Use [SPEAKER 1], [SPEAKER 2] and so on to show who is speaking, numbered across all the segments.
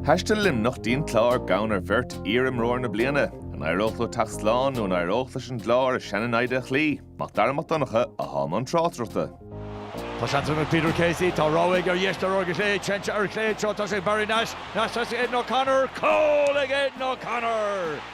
[SPEAKER 1] Thaistil Luimneach dtín Clár gann ar bheirt iar-imreoir na bliana. An éireodh leo teacht slán nó an éireodh leis an gClár a sean-naimhde a chloí? Mac Dara Mac Donncha a bhí i mbun tráchtaireachta. Tá seans anois Peter Casey, tá rogha aige ar dheis de rogha ar chlé, Lynch ar chlé, chun tosaigh Barry Nash, Nash chun tosaigh Aidan O'Connor, cúl ag Aidan O'Connor!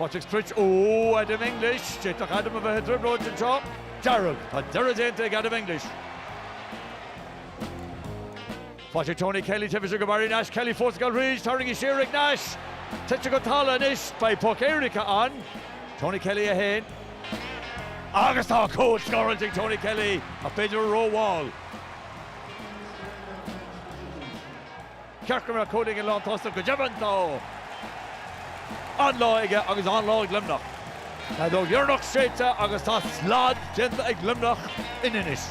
[SPEAKER 1] Faoin sprioc, Ó, Adam English, d'fhéadfadh Adam a bheith i dtrioblóid anseo. Gerald, Tá deireadh déanta ag Adam English. Patrick, Tony Kelly, tarraingthe siar go Barry Nash, Kelly fós ag gabháil ar aghaidh, tarraingthe siar ag Nash, tite go talamh anois, beidh poc éirice ann. Tony Kelly 1, agus tá cúl scóráilte ag Tony Kelly, ach b'fhéidir é rómhall. ceart go mbeadh cúl ag an lántosach. Go deimhin, tá an-lá aige agus an-lá ag Luimneach. Tá an fheadóg dheireanach séidte agus tá slad déanta ag Luimneach in Inis.